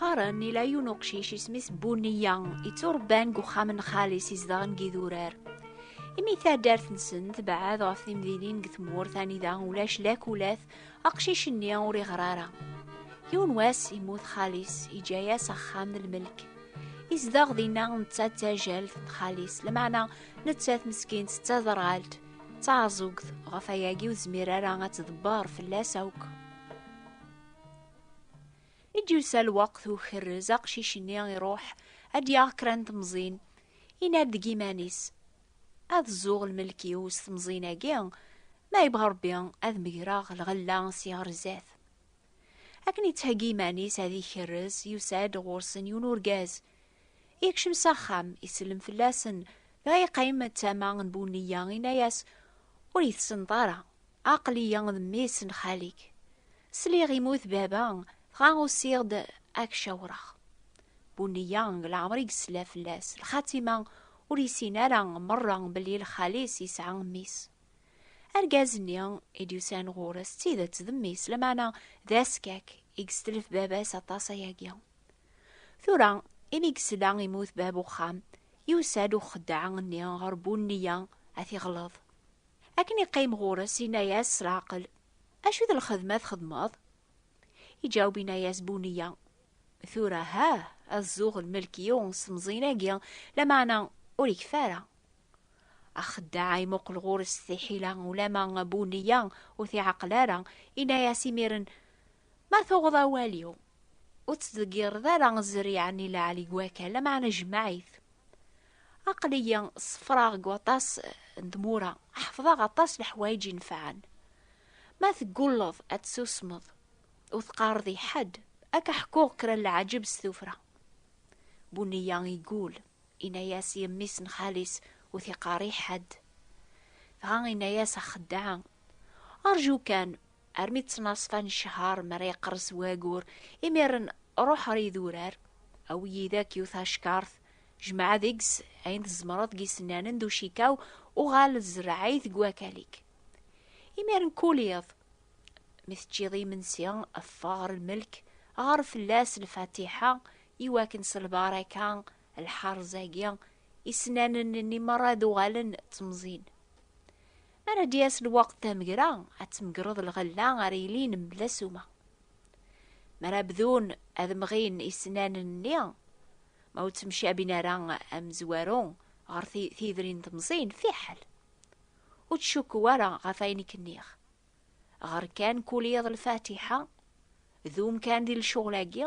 qqaren ila yiwen uqcic isem-is Buniya itturebban deg uxxam n xali-s izedɣen deg idurar imi taddart-nsen tebɛed ɣef timdinin deg tmurt anida ulac lakulat aqcic-nni ur iɣer ara yiwen wass imut xali-s iǧa-yas axxam n lmelk izdeɣ dinna netta d tajalt n xali-s lameɛna nettat meskint d taderɣalt D taɛeẓẓugt ɣef ayagi ur tezmir ara ad tḍebber fell-as akk. I d-yusa lweqt ukerrez aqcic-nni iruḥ ad d-yaɣ kra n temẓin, yenna-d deg iman-is, Ad zzuɣ lmelk-iw s temẓin-agi, ma yebɣa Rebbi ad megreɣ lɣella si ɣer zdat. Akken yettheggi iman-is ad ikerrez, yusa-d ɣur-sen yiwen urgaz, Yekcem s axxam, isellem fell-asen, dɣa yeqqim d tama n Buniyya, yenna-as, Ur yi-tessneḍ ara, aql-iyi d mmi-s n xali-k. Sliɣ immut baba, dɣa usiɣ-d ad k-cawreɣ. Buniyya leɛmer i yesla fell-as, lxatima ur yessin ara merra belli lxali-s yesɛa mmi-s. Argaz-nni i d-yusan ɣur-s d tidet d mmi-s, lameɛna d askak i yestetlef baba-s aṭas ayagi. Tura, imi gesla imut bab uxxam, yusa-d uxeddaɛ-nni ɣer Bunniya ad t-iɣleḍ. Akken iqqim ɣur-s, inna-yas s leɛqel, Acu d lxedma txedmeḍ? Iǧaweb inna-yas Bunniya, Tura ha, ad zuɣ lmelk yiwen s mẓin-agi, lameɛna ur ikfi ara. Axeddaɛ imuqel ɣur-s s tiḥila, ulamma Bunniya ur t-iɛaqel ara, inna-yas imiren, Ma tuɣeḍ awal-iw, ur ttdeggireḍ ara zzriɛa n ileɛli n wakal, lameɛna jemmeɛ-it. Aql-iyi ṣeffreɣ deg waṭas n tmura, ḥefḍeɣ aṭas leḥwayeǧ inefɛen. Ma teggulleḍ ad tsusmeḍ, ur teqqareḍ i ḥedd, ad k-ḥkuɣ kra n leɛǧeb s tuffra. Buneyya iggull, inna-yas i mmi-s n xali-s ur t-iqqar i ḥedd. Dɣa inna-yas axeddaɛa, Rǧu kan, armi ttnaṣfa n ccher mi ara yeqres wagur imiren ruḥ ar idurar awi yid-ak yiwet acekkart jmeɛ deg-s ayen tzemreḍ deg isennanen d ucikaw uɣal zreɛ-it deg wakal-ik imiren kul iḍ mi teččiḍ imensi ffeɣ ɣer lmelk ɣer fell-as lfatiḥa iwakken s lbaraka lḥerz-agi, isnanen-nni merra ad uɣalen d temẓin. Mi ara d-yas lweqt tamegra, ad tmegreḍ lɣella ara yilin mebla ssuma. Mi ara bdun ad mɣin isnanen-nni, ma ur ttemcabin ara amezwaru ɣer tidrin temẓin, fiḥel. Ur ttcukku ara ɣef ayen i k-nniɣ. ɣer kan kul iḍ lfatiḥa dum kan di lcuɣl-agi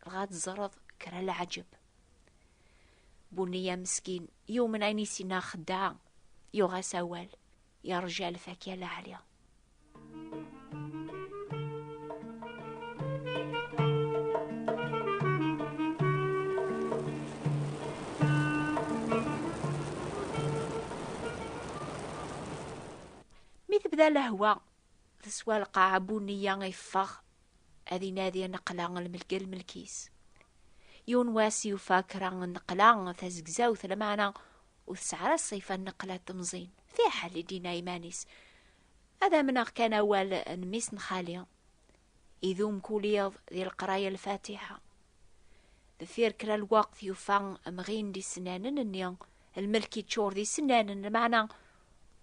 dɣa teẓreḍ kra leɛǧeb bunniya meskin yumen ayen i sinna xeddaɛ yuɣ-as awal yerja lfakya laɛli Mi tebda lehwa, teswa lqaɛa Bunniya yeffeɣ ad inadi nneqla lmelk lmelk-is. Yiwen wass yufa kra nneqla tazegzawt lameɛna ur tesɛi ara ṣṣifa n nneqla temẓin. Fiḥel i d-yenna iman-is, Ad amneɣ kan awal n mmi-s n xali. Idum kul iḍ di leqraya lfatiḥa. Deffir kra lweqt yufa amɣin d isennanen-nni, lmelk yeččur d isennanen, lmeɛna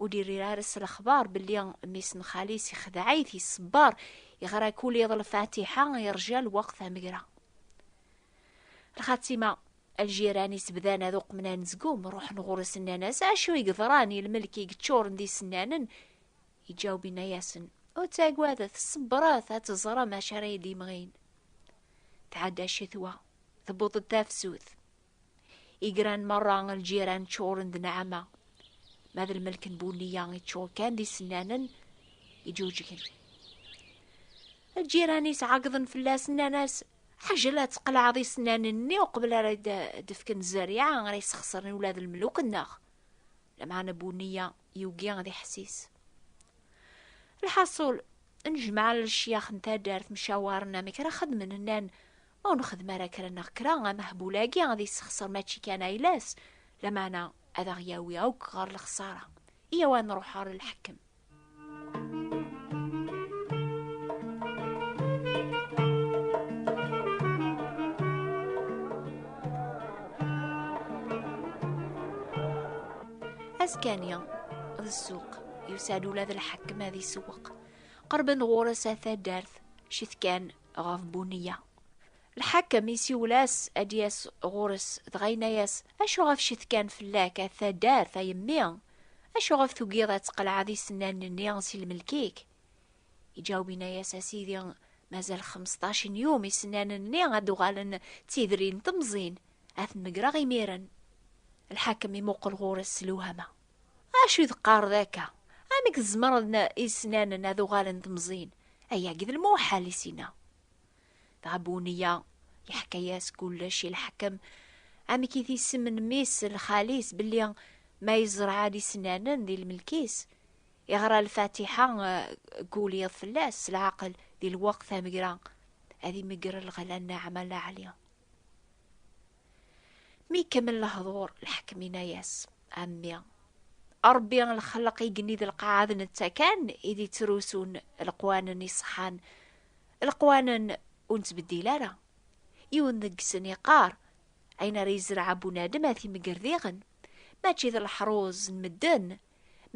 ur d-irri ara s lexbar belli mmi-s n xali-s ixdeɛ-it, iṣebber, yeɣra kul iḍ lfatiḥa, yerja lweqt amegra. Lxatima, ljiran-is bdan ad uqmen anezgum, ruḥen ɣur-s nnan-as, acu i geḍran i lmelk i yeččuren d isennanen, Iǧaweb inna-yasen, Ur ttagadet, ṣebbret ad teẓrem acu ara yi-d-imɣin. Tɛedda ccetwa, tewweḍ-d tafsut. Igran merra n lǧiran ččuren d nneɛma. Ma d lmelk n Bunniya iččur kan d isennanen iǧuǧgen. Lǧiran-is ɛeggḍen fell-as, nnan-as, Ḥajel ad tqelɛeḍ isennanen-nni uqbel ara d-fken zzerriɛa ara yesxesren ula d lmeluk-nneɣ. Lameɛna Bunniya yugi ad iḥessis. Lḥaṣul, nejmaɛ lecyax n taddart mcawaren amek ara xedmen nnan ma ur nexdem ara kra neɣ kra amehbul-agi ad yessexṣer mačči kan ayla-s, lameɛna ad aɣ-yawi akk ɣer lexṣara. Iyaw ad nruḥ ɣer lḥekkem. askani d ssuq yusa-d ula d lḥakem ad isewweq qerben ɣur-s a taddart cit kan ɣef buniya lḥakem isiwel-as ad d-yas ɣur-s dɣa yenna-yas acu ɣef cit kan fell-ak a taddart a yemmi acu ɣef tugiḍ ad tqelɛeḍ isennanen-nni si lmelk-ik iǧaweb yenna-yas a sidi mazal xemseṭṭac n yum isennanen-nni ad uɣalen d tidrin temẓin Ad t-megreɣ imiren. Lḥakem imuqel ɣur-s s lewhama. Acu i d-teqqareḍ akka? Amek tzemreḍ isnanen ad uɣalen temẓin? Ayagi d lmuḥal i s-yenna. Dɣa Buneyya yeḥka-yas kullec i lḥakem, amek i t-isem n mmi-s d lxali-s belli ma yezreɛ-d isnanen di lmelk-is, iɣra lfatiḥa deg ul yiḍ fell-as s leɛqel di lweqt amegra, ad imegger lɣella n Naɛma Laɛli. Mi ikemmel lehdur, lḥakem yenna-yas, A mmi, Ṛebbi lxelq igenni d lqaɛa d netta kan i d ittrusun leqwanen iṣeḥḥan, leqwanen ur nettbeddil ara. Yiwen deg-sen iqqar, Ayen ara yezreɛ bunadem ad t-imegger diɣen. Mačči d leḥruz n medden,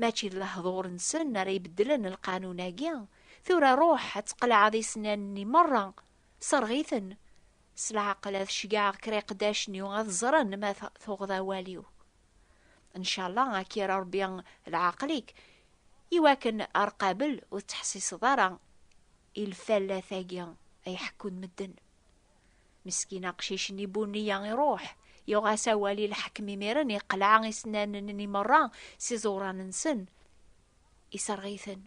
mačči d lehdur-nsen ara ibeddlen lqanun-agi. Tura ruḥ ad tqelɛeḍ isennanen-nni meṛṛa, Serɣ-iten. S leɛqel ad ceggɛeɣ kra iqeddacen-iw ad ẓren ma tuɣeḍ awal-iw. Ncalla ad k-irr Rebbi leɛqel-ik iwakken ar qabel ur tettḥessiseḍ ara i lfallat-agi ay ḥekkun medden. Meskin aqcic-nni Bunni-a iruḥ, yuɣ-as awal i lḥekem imiren iqleɛ isennanen-nni merra s iẓuran-nsen, Isserɣ-iten.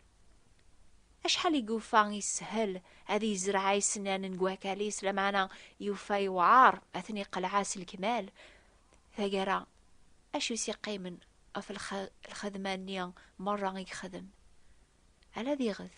Acḥal i yufa ishel ad yezreɛ ayesennan n wakal-is, lameɛna yufa yewɛer ad ten-iqelɛa s lekmal. Tagara, acu i s-iqqimen ɣef lxedma-nni merra i yexdem? Ala diɣet.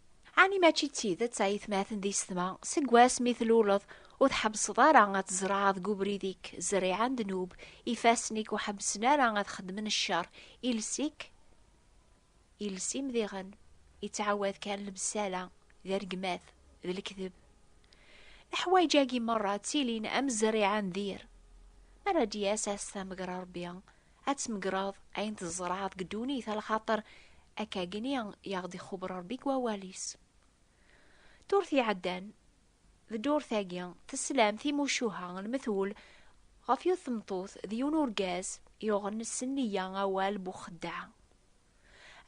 Ɛni mačči d tidet ay tmaten di setma, seg wass mi tluleḍ, ur tḥebbseḍ ara ad tzerɛeḍ deg ubrid-ik zzriɛa n ddnub, ifassen-ik ur ḥebbsen ara ad xeddmen ccer, iles-ik, iles imdiɣen, yettɛawad kan lebsala, d rregmat, d lekdeb. Leḥwayeǧ-agi merra ttilin am zzriɛa n dir. Mi ara d-yas ass tamegra Rebbi, ad tmegreḍ ayen tzerɛeḍ deg ddunit a lxaṭer akkagni i aɣ-d-ixubb Rebbi deg wawal-is. Ddurt iɛeddan d ddurt-agi teslam timucuha n lmetwel ɣef yiwet tmeṭṭut d yiwen urgaz yuɣen s nniya awal bu xeddaɛ.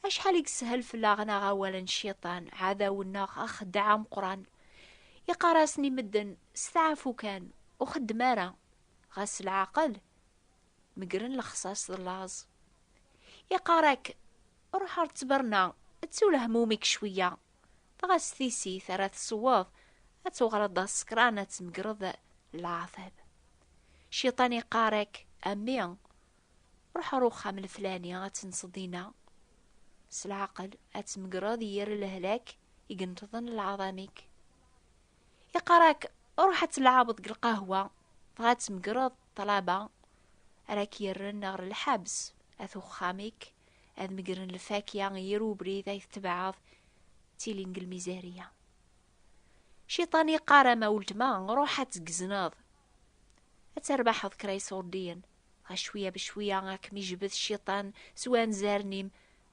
Acḥal i yeshel fell-aɣ-neɣ awal n cciṭan, ɛadaw-nneɣ axeddaɛ ameqqran. Iqqar-asen i medden, steɛfu kan, ur xeddem ara, ɣas s leɛqel, Megren lexsas d laẓ. Iqarak, ruḥ ar ttberna, ttu lehmumik cwiya. Dɣa s tisit ara tesweḍ, ad tuɣaleḍ d asekran ad tmegreḍ leɛtab. Ciṭan iqarak, a mmi, ruḥ ar uxxam leflani ad tenseḍ dinna. S leɛqel ad tmegreḍ yir lehlak i yenṭḍen lɛaḍamik. Iqarak, ruḥ ad tleɛbeḍ deg lqahwa, dɣa ad tmegreḍ Ṭṭlaba ara k-yerren ɣer lḥebs, at uxxam-ik ad megren lfakya i yir ubrid ay tetbeɛeḍ, ttilin deg lmizariya. Ciṭan yeqqar ama weltma, ruḥ ad tgezneḍ. Ad terbaḥeḍ kra iṣurdiyen, dɣa cwiya becwiya ad kem-ijbed Ciṭan s wanzaren-im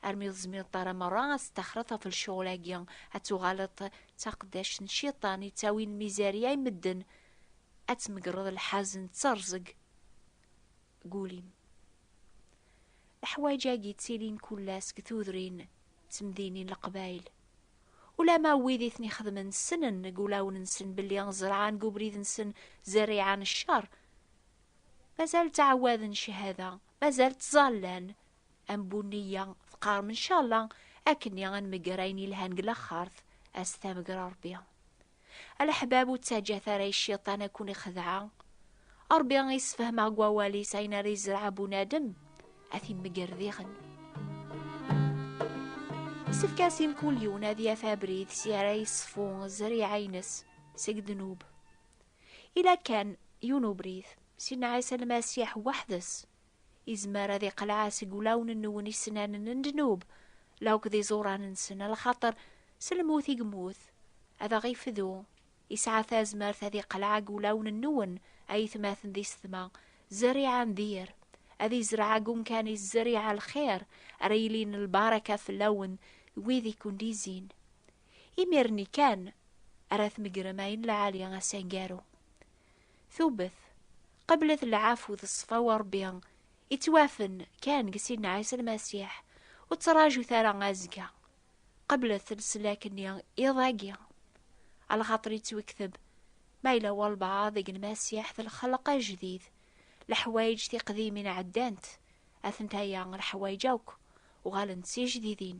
armi ur tezmireḍ ara merra ad testaxreḍ ɣef lecɣal-agi, ad tuɣaleḍ d taqeddact n Ciṭan yettawin lmizariya i medden, Ad tmegreḍ lḥazen d terẓeg deg ul-im. Leḥwayeǧ-agi ttilin kul ass deg tudrin d temdinin n Leqbayel. Ulamma wid i ten-ixedmen ssnen deg ulawen-nsen belli ẓerɛan deg ubrid-nsen zerriɛa n ccer, mazal ttɛawaden cchada, mazal ttẓallan am bunniya, teqqarem ncalla akkenni ad nmegger ayen yelhan deg laxert, ad s-tameger Rebbi. Aleḥbab ur ttaǧǧat ara i cciṭan ad ken-ixdeɛ. Ṛebbi i sfehmeɣ deg wawal-is ayen ara izreɛ bunadem, ad t-imegger diɣen. Isefk-as i mkul yiwen ad yaf abrid si ara yeṣfu zzriɛa-ines seg ddnub. Ila kan yiwen ubrid, Sidna Ɛisa Lmasiḥ weḥd-s Izmer ad iqleɛ seg ulawen-nwen isnanen n ddnub, la akked iẓuran-nsen, a lxaṭer s lmut i yemmut, ad aɣ-ifdu. Isɛa tazmert ad iqleɛ ag ulawen-nwen, a yetmaten di setma, zerriɛa n dir, ad izreɛ ag umkan-is zerriɛa n lxir, ara yilin lbaraka fell-awen d wid i ken-d-izzin. Imir-nni kan ara tmegrem ayen lɛali, asangaru. Tubet, qeblet lɛafu d ṣṣfa wa Ṛebbi ittwafen kan deg Sidna Ɛisa Lmasiḥ, ur ttṛaǧut ara azekka, qeblet leslak-nni iḍ agi, alxaṭer yettwekteb ma yella walbaɛḍ deg Lmasiḥ d lxelq ajdid, leḥwayeǧ tiqdimin ɛeddant, atenta-ya leḥwayeǧ akk uɣalent d tijdidin.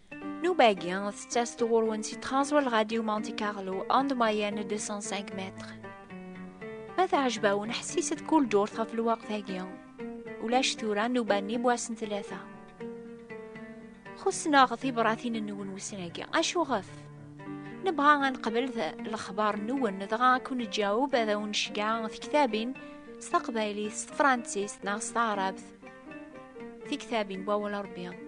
Nubagi, tettas tɣurwen si Transworld Radio Monte Carlo en de moyenne 205 mètres. Ma teɛjeb-awen ḥessiset kul ddurt ɣef lweqt-agi. Ulac tura nnuba-nni bu ass n tlata. Xussen-aɣ tibratin-nwen wussan-agi. Acuɣef? Nebɣa ad neqbel lexbar-nwen dɣa ad kun-neǧaweb ad awen-necgeɛ tektabin s taqbaylit, s tefransist neɣ s taɛrabt. Tiktabin n wawal Rebbi.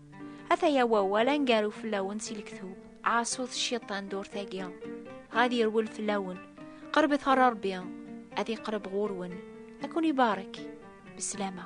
Ataya wawal angaru fell-awen si lektub, ɛaṣut cciṭan durt-agi, ɣad yerwel fell-awen, qerbet ɣer Ṛebbi, ad iqreb ɣur-wen, ad ken-ibarek, beslama.